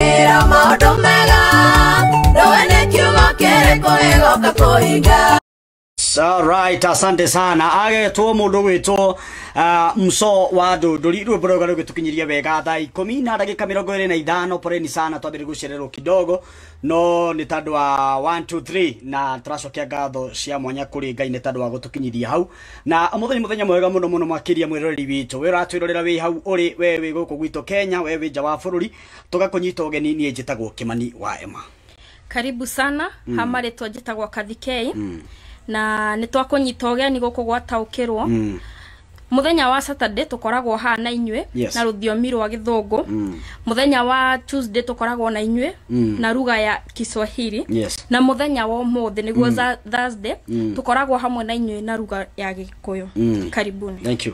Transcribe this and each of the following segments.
Ira maũndũ mega ndũĩ nĩ kiugo kĩrĩkũ gĩgoka kũhinga Alright, asante sana agetwo mundu gwitwo uh, mso wa ndunduri rwimbo rwega rugitukinyiria wega thaa ikumi na ndagika mirongo iri na ithano poreni sana twambire gucererwo kidogo no ni tandu wa 1 2 3 na turacokia ngatho cia mwanya kuri ngai ni tandu wa gutukinyiria hau na umuthi ni muthenya mwega muno muno makiria mwiroreri witu we uratwirorera wi hau uri we wi guku gwitu Kenya we wi nja wa bururi toga kũnyita ũgeni niĩ njĩtagwo kĩmani wa ema karibu sana mm. ha marĩtwa njĩtagwo kathikei mm. na nĩ twakũnyita ũgeni gũkũ gwataũkĩrwo mm. muthenya wa saturday tukoragwo haha na inyuĩ Yes. na rũthiomi rwa gĩthũngũ Mm. muthenya wa tuesday tukoragwo na inyuĩ Mm. na ruga ya kiswahili yes na muthenya wa ũmũthĩ nĩguo mm. thursday mm. tukoragwo hamwe na inyuĩ na ruga ya gĩkũyũ Mm. karibuni thank you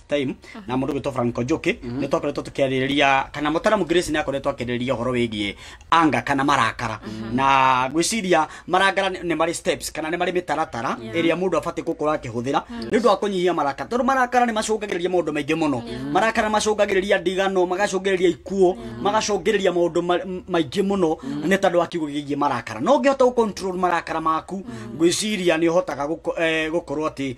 time na mundu gwitwo Franco Njuki ni twakoretwo tukiaririria kana mutaramu Grace ni akoretwo akiririria horo wigie anga kana marakara na gwiciria marangara ni ni mari steps kana ni mari mitaratara iria mundu abati gukora akihuthira ni ndu akunyihia marakara tondu marakara ni macungagiriria maundu maingi muno marakara macungagiriria ndigano magacungiriria ikuo magacungiriria maundu ma- m- maingi muno ni tondu wa kiugo gigie marakara no ngihota gu control marakara maku gwiciria ni uhotaga guko- eh, gukorwo ati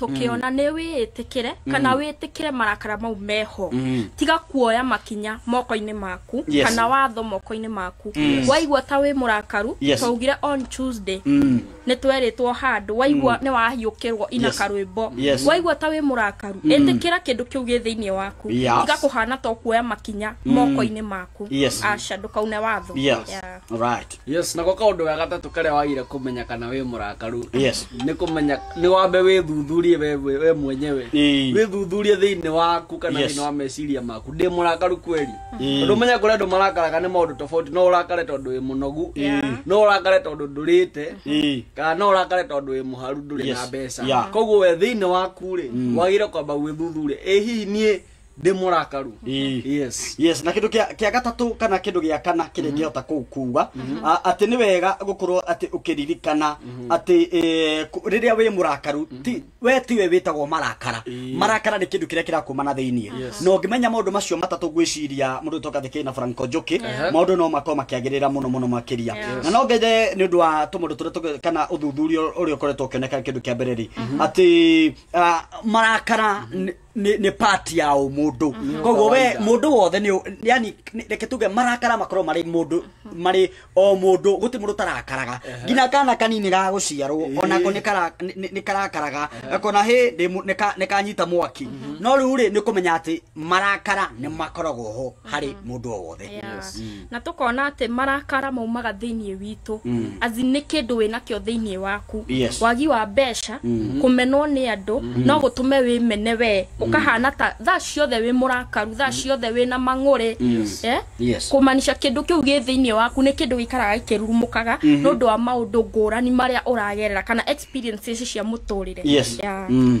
tũkĩona nĩ wĩĩtĩkĩre kana wĩtĩkĩre marakara mau meho Mm. tiga kuoya makinya moko-inĩ maku Yes. kana watho moko-inĩ maku Yes. waigua ta wĩ mũrakaru Yes. twaugire on tuesday Mm. nĩ twerĩtwo handũ waigua nĩ wahiũkĩrwo ina Yes. karwĩmbo Yes. waigua ta wĩ mũrakaru ĩtĩkĩra kĩndũ kĩu gĩ thĩinĩ waku Yes. tiga kũhana to kuoya makinya moko-inĩ maku Yes. aca ndũkaune watho Yes. Yeah. Right. yes nako kaundu ga gatatu karia wagire kumenya kana wi murakaru yes ni kumenya ni wambe withuthurie we we we mwenyewe Ĩĩ. withuthurie thiini waku kana Yes. thiini wa meciria maku ndi murakaru kweli Ĩĩ. tondu menya kuria andu marakaraga ni maundu tofauti no urakare tondu wi munogu Yeah. no urakare tondu ndurite Ĩĩ. kana no urakare tondu wi muharu nduri na Yes. mbeca Yeah. koguo we thiini waku ri wagire kwamba gwithuthuria ĩ hihi nie ndä må rakaru Ii. yes yes na kindu kia kia gatatu kana kindu gia kana kiri ngihota kuu kuuga a- ati ni wega gukorwo ati ukiririkana ati eh, ku- riria wi murakaru ti we tiwe witagwo marakara Ii. marakara ni kindu kiria kirakuma na thiini Yes. no ngimenya maundu macio matatu ngwiciria mundu toka thikiri na franco njuki Ehe. maundu no makorwo makiagirira muno muno makiria Yes. na no ngethe ni undu wa tumundu turia tuge- kana uthuthuria uria ukoretwo ukioneka kindu kia mbere ri ati ah, marakara ni- nĩ nĩ part ya ũ mũndũ koguo we Kawaida. mũndũ wothe nĩ ũ- yani nĩ- reke tuge marakara makorwo marĩ mũndũ marĩ o mũndũ gũtĩ mũndũ tarakaraga nginya kana kanini ga gũciarwo Ĩĩ. onako nĩ kara- nĩ- nĩ- nĩ karakaraga gakona hĩ ndĩ mũ- nĩ ka- nĩ kanyita mwaki no rĩu rĩ nĩ kũmenya atĩ marakara nĩ makoragwo ho harĩ mũndũ o wothe Yes. Mm. na tũkona atĩ marakara maumaga thĩinĩ witũ Mm. azi nĩ kĩndũ wĩnakĩo thĩinĩ waku Yes. wagi wa mbeca Mhm. kũmenwo nĩ andũ Mhm. no gũtũme wĩmene wee ũkahana ta thaa ciothe wĩ mũrakaru thaa ciothe wĩ na mang'ũrĩ Yes. Eh? Yes. kũmanisha kĩndũ kĩu gĩ thĩinĩ waku nĩ kĩndũ gĩikaraga gĩkĩrurumũkaga Mhm. nĩ ũndũ wa maũndũ ngũrani marĩa ũragerera kana experiences cia mũtũrĩre Yes. Yeah. Mm.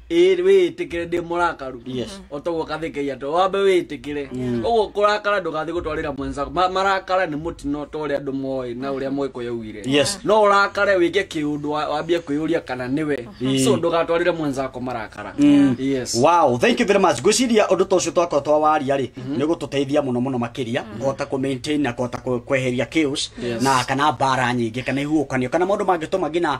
ĩrĩ wĩĩtĩkĩre ndĩ mũrakaru Yes. otoguo kathĩkĩria to wambe wĩĩtĩkĩre ũguo kũrakara ndũgathiĩ gũtwarĩra mwenza Ma- marakara nĩ mũtino ta ũrĩa andũ moĩ na ũrĩa mũgĩkũyũ augire Yes. no ũrakare wĩke kĩũndũ wa- wambie kwĩyũria kana nĩwe so ndũgatwarĩre mwenzako marakara yes wow thank you very much ngwĩciria ũndũ ta ũcio twakorwo twawaria rĩ nĩ gũtũteithia mũno mũno makĩria kũhota kũ maintain na kũhota kũ- kweheria chaos Yes. na kana mbara nyingĩ kana ihuhũkanio kana maũndũ mangĩtũma nginya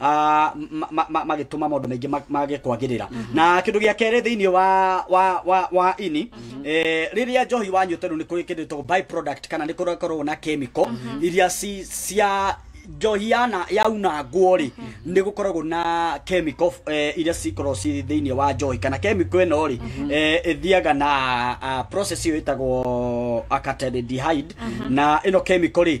ah, ma- ma- ma- magĩtũma maũndũ maingĩ ma- mage kwagĩrĩra na kĩndũ gĩa kerĩ thĩinĩ wa wa wa wa ini eh, rĩrĩa njohi wanyuĩte rĩu nĩ kũrĩ kĩndũ gĩtagwo by product kana nĩ kũrakorwo na chemical iria ci- cia njohi yana yaunangwo rĩ nĩ gũkoragwo na chemical eh, iria cikoragwo ci thĩinĩ wa njohi kana chemical ĩno rĩ eh, ĩthiaga na ah, process ĩyo ĩtagwo acataldehyde na ĩno chemical rĩ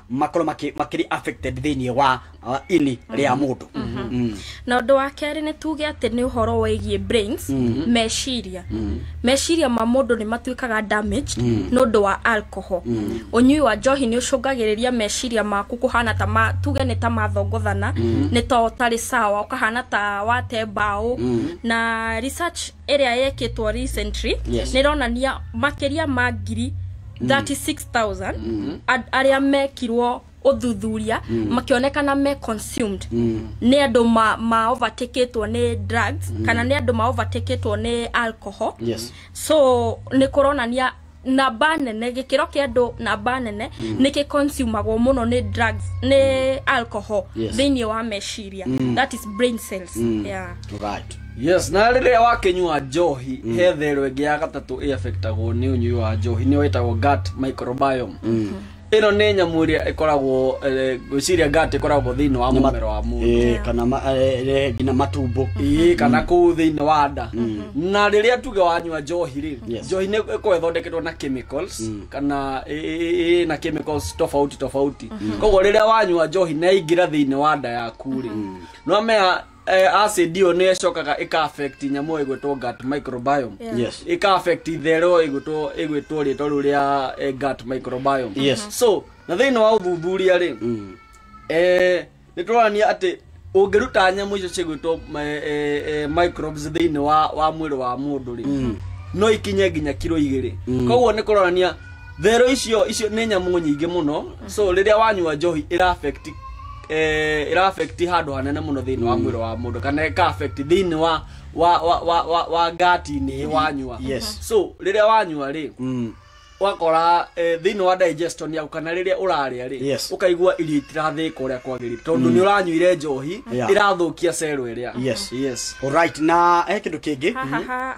makorwo makĩ- makĩrĩ affected thĩinĩ wa uh, ini rĩa mũndũ Mm. na ũndũ wa kerĩ nĩ tuge atĩ nĩ ũhoro wĩgiĩ brains meciria meciria ma mũndũ nĩ matuĩkaga damaged nĩ ũndũ wa alcohol ũnyui wa njohi nĩ ũcũngagĩrĩria meciria maku kũhana ta ma, tuge nĩ ta mathongothana nĩ ta ũtarĩ sawa ũkahana ta wate mbaũ na research ĩrĩa yekĩtwo recently Yes. nĩ ĩronania makĩria ma ngiri 36000 a- arĩa mekirwo ũthuthuria makĩonekana me consumed nĩ andũ ma- maovatikĩtwo nĩ drugs kana nĩ andũ maovatikĩtwo nĩ alcohol yes so nĩ kũronania namba nene gĩkĩro kĩa andũ namba nene mm. nĩ kĩconsumagwo mũno nĩ drugs nĩ alcohol Yes. thĩinĩ wa meciria mm. that is brain cells mm. yeah. right yes na rĩrĩa wakĩnyua njohi mm. he therũ ĩngĩ ya gatatũ ĩafektagwo nĩ ũnyui wa njohi nĩyo ĩtagwo gut microbiome mm. ĩno nĩ nyamũ ĩrĩa ĩkoragwo eh, ngwĩciria ngat ĩkoragwo thĩinĩ wa mũmero wa mũndũ Eh, kana ma- eh, eh, nginya matumbo ii kana kũu thĩinĩ wa nda na rĩrĩa tuge wanyua njohi rĩ Yes. njohi nĩ ĩkoragwo ĩthondeketwo na chemicals kana ĩ- ĩ- ĩ- ĩ na chemicals tofauti tofauti koguo rĩrĩa wanyua njohi na yaingĩra thĩinĩ wa nda yaku rĩ no mea eh, acid ĩyo nĩ ĩcokaga ĩka affect nyamũ ĩgwĩtwo gut microbiome Yeah. Yes. ĩka affect itherũ ĩgwĩtwo ĩgwĩtwo rĩtwa rĩu rĩa eh, gut microbiome Yes. so na thĩinĩ wa ũthuthuria rĩ Mm. eh, nĩ tũronania atĩ ũngĩruta nyamũ icio cigwĩtwo eh, eh, eh, microbes thĩinĩ wa, wa mwĩrĩ wa mũndũ rĩ no ikinye nginya kiro igĩrĩ koguo nĩ kũronania therũ icio icio nĩ nyamũ nyingĩ mũno so rĩrĩa wanyua njohi ĩra affect eh, ĩra affect handũ hanene mũno thĩinĩ wa mwĩrĩ wa mũndũ kana ĩka affect thĩinĩ wa wa wa wa, wa, wa ngati-inĩ wanyua Yes. so rĩrĩa wanyua rĩ Mm. wakora eh, thĩinĩ wa digestion yaku kana rĩrĩa ũrarĩa rĩ Yes. ũkaigua irio itirathĩka ũrĩa kwagĩrĩire tondũ nĩ ũranyuire njohi Yeah. ĩrathũkia cero ĩrĩa Yes. yes Alright, na he kĩndũ kĩngĩ Ha, ha, ha.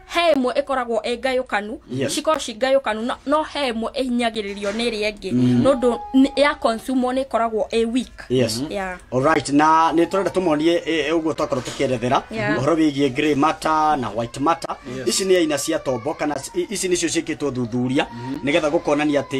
he ĩmwe ĩkoragwo ĩ ngayũkanu Yes. cikorwo ci ngayũkanu no- no he ĩmwe ĩhinyagĩrĩrio nĩ ĩrĩa ĩngĩ nĩ ũndũ nĩ- ya consumer nĩ ĩkoragwo ĩ weak yes Yeah. Alright, na nä tå renda tå monie å guo twakorwo tå kä erethera Yeah. å horo wä giä grey matter na white matter ici nä aina cia tombo kana i- ici nä cio ciä kä two thuthuria nä getha gå konania atä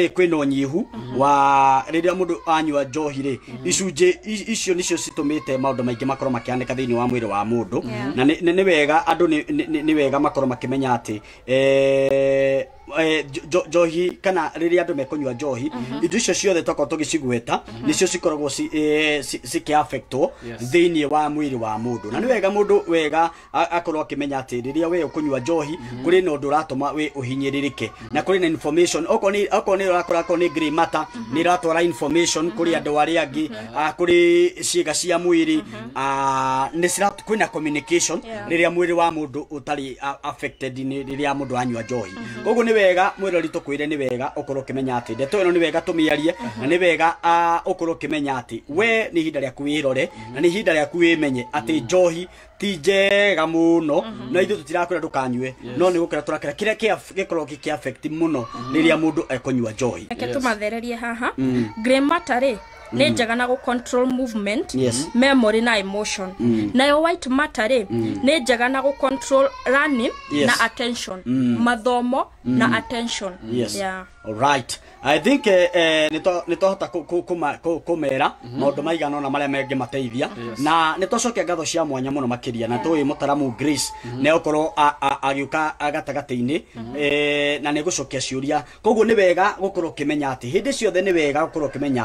kwä na å nyihu wa rä rä a må ndå anyua njohi rä icunjĩ i- icio nĩcio citũmĩte maũndũ maingĩ makorwo makĩhanĩka thĩinĩ wa mwĩrĩ wa mũndũ na nĩ- nĩ nĩ wega andũ nĩ- nĩ- nĩ- nĩ wega makorwo makĩmenya atĩ eh, eh, njo- njo- njohi kana rĩrĩa andũ mekũnyua njohi indo icio ciothe tokorwo tũgĩcigweta nĩcio cikoragwo ci- eh, ci- cikĩafektwo Yes. thĩinĩ wa mwĩrĩ wa mũndũ na nĩ wega mũndũ wega a- akorwo akĩmenya atĩ rĩrĩa we ũkũnyua njohi kũrĩ na ũndũ ũratũma we ũhinyĩrĩrĩke na kũrĩ na information okorwo nĩ okorwo nĩ ũrakora akorwo nĩ grey matter nĩ ĩratwara information kũrĩ andũ arĩa angĩ ah, kũrĩ ciĩga cia mwĩrĩ ah, nĩ cira kwĩna communication Yeah. rĩrĩa mwĩrĩ wa mũndũ ũtarĩ a- affected nĩ rĩrĩa mũndũ anyua njohi koguo nĩ wega mwĩrori tũkwĩre nĩ wega ũkorwo ũkĩmenya atĩ ndeto ĩno nĩ wega tũmĩarie na nĩ wega ah, ũkorwo ũkĩmenya atĩ we nĩ ihinda rĩaku wĩrore na nĩ ihinda rĩaku wĩmenye atĩ njohi ti njega muno na ithuĩ tũtirakwĩra ndũkanyue no nĩ gũkĩra tũrakĩra kĩrĩa kĩa- gĩkoragwo gĩkĩ affect mũno rĩrĩa mũndũ ekũnyua njohi reke tũmathererie haha grey matter rĩ nĩ njega na gũcontrol movement Yes. memory na emotion nayo white matter rĩ nĩ njega na gũcontrol learning Yes. na attention mathomo na attention Yes. yeah. Alright. I think eh, eh, nito- nitwahota ku- ku- kuma- ku- kumera maundu maigana ona maria mangĩmateithia Yes. na nitwacokia ngatho cia mwanya muno makiria na tũĩ mũtaramu grace nĩgũkorwo a- a- agĩũka gatagatĩ-inĩ eh, na nĩgũcokia ciũria koguo nĩ wega gũkorwo ũkĩmenya atĩ hĩndĩ ciothe nĩ wega gũkorwo ũkĩmenya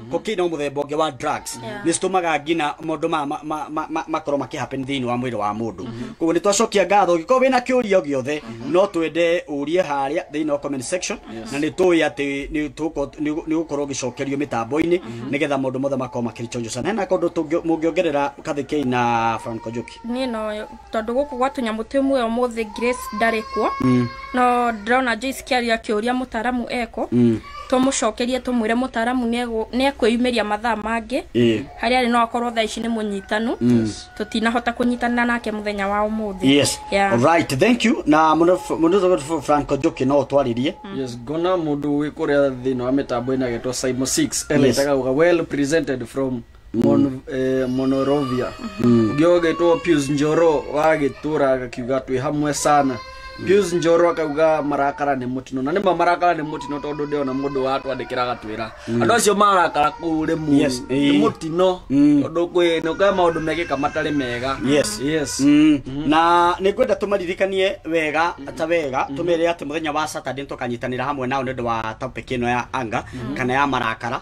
koki no muthemba ungi wa drugs Yeah. ni citumaga ngina maundu ma ma- ma- ma- ma- makorwo maki happen thiini wa mwiri wa mundu koguo ni twacokia ngatho ngikorwo wina kiuria o giothe no twende urie haria thiini wa comment section na ni tuwi ati ni tuko- ni ni gukorwo gicokerio mitambo-ini nigetha maundu mothe makorwo makirichonjo sana hena kundu tungio- mungiongerera kathikei na Franco Njuki niä no tondå gå kå gwa tå nyamå twä muoyo må thä grace ndarä kuo Mm. no ndĩrona joyce kĩaria kĩũria mũtaaramu eko Mm. tũmũcokerie tũmwĩre mũtaaramu nĩ ekwĩyumĩria mathaa mangĩ Eh. harĩa arĩ no akorwo thaa ici nĩ mũnyitanu Mm. tũtinahota kũnyitana nake mũthenya wa ũmũthĩ yes Yeah. alright thank you na mũndũ franco njoki no ũtwarĩrie yes ngona mundu wi kuria thini wa mitambo ina getwa simo 6 Yes. ena itaga well presented from Mon, eh, monorovia ũngĩ ũgĩtwo pius njoro wa gĩtũra agakiuga twĩ hamwe sana pius njoro akauga marakara nĩ mũtino na nĩma marakara nĩ mũtino tondũ ndĩona mũndũ watwandĩkĩra agatwĩra andũ acio marakara kũu rĩ mũru Yes, nĩ eh. mũtino Mm. tondũ kwĩ nĩũkae maũndũ mekĩka matarĩ mega Yes. yes Mm. na nä ngwenda tå maririkanie wega ta wega tå mere atä må thenya wa saturday nä tåkanyitanä ra hamwe nao nä å ndå wa topic ä no ya anga kana ya marakara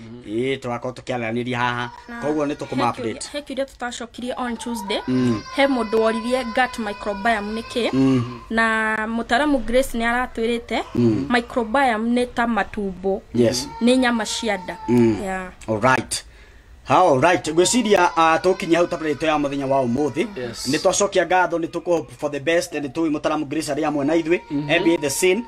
ĩĩ tũrakorwo tũkĩaranĩria haha koguo nĩ tũkũma update he kiuria tũtacokirie on tuesday Mm. he mũndũ woririe gut microbiome nĩ kĩ Mm. na mũtaramu grace nĩ aratwĩrĩte Mm. microbiome nĩ ta matumbo yes nĩ nyama cia nda Mm. yeah. Alright. How right. Ngwĩciria uh, tũkinya hau tablet itũ ya mũthenya wa ũmũthĩ Yes. nĩ twacokia ngatho nĩ tũkũ hope for the best nĩ tũĩ mũtaramu Grace arĩ amwe na ithuĩ MBA the scene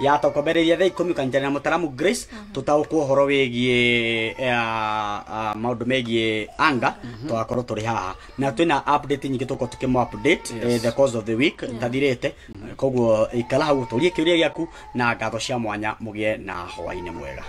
yatokombereria thaa ikũmi ũkanyitanĩra na mũtaramu grace tũtaũkwo ũhoro wĩgiĩ eh, ah, maũndũ megiĩ anga tũgakorwo tũrĩ haha na twĩna update nyingĩ tũkorwo tũkĩmũ update eh, the cause of the week tathirĩte koguo ikara hau ũtũrie kĩũria gĩaku na ngatho cia mwanya mũgĩe na hwainĩ mwega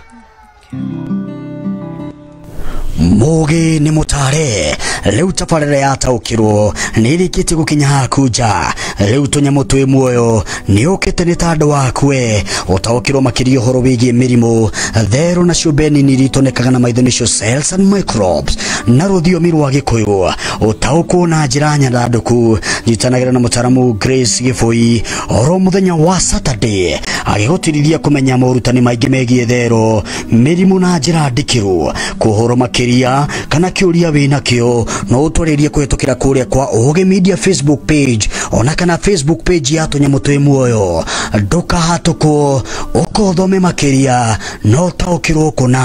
mugi nĩ mũtare rĩu tabarĩra yataũkirwo nĩ ĩrĩkĩtie gũkinya haku nja rĩu tũnyamũ twĩ muoyo nĩ ũkĩte nĩ ta andũ waku we ũtaũkirwo makĩria ũhoro wĩgiĩ mĩrimũ therũ na ciũmbe nini iria itonekaga na maitho nĩcio cells and microbes na rũthiomi rwa gĩkũyũ ũtaũkwo na njĩra nyandandũku nyitanagĩra na mũtaramu Grace Gĩbũi oro muthenya wa saturday agĩgũtirithia kũmenya morutani maingĩ megiĩ therũ mĩrimũ na njĩra ndikĩru kũhũrwo makĩria kana kĩũria wĩ nakĩo no ũtwarĩrie kũhĩtũkĩra kũrĩa kwa ũgĩ media facebook page ona kana facebook page ya tũnyamũ twĩ muoyo ndũkahatũkwo ũkothome makĩria no ũtaũkĩrwo kũna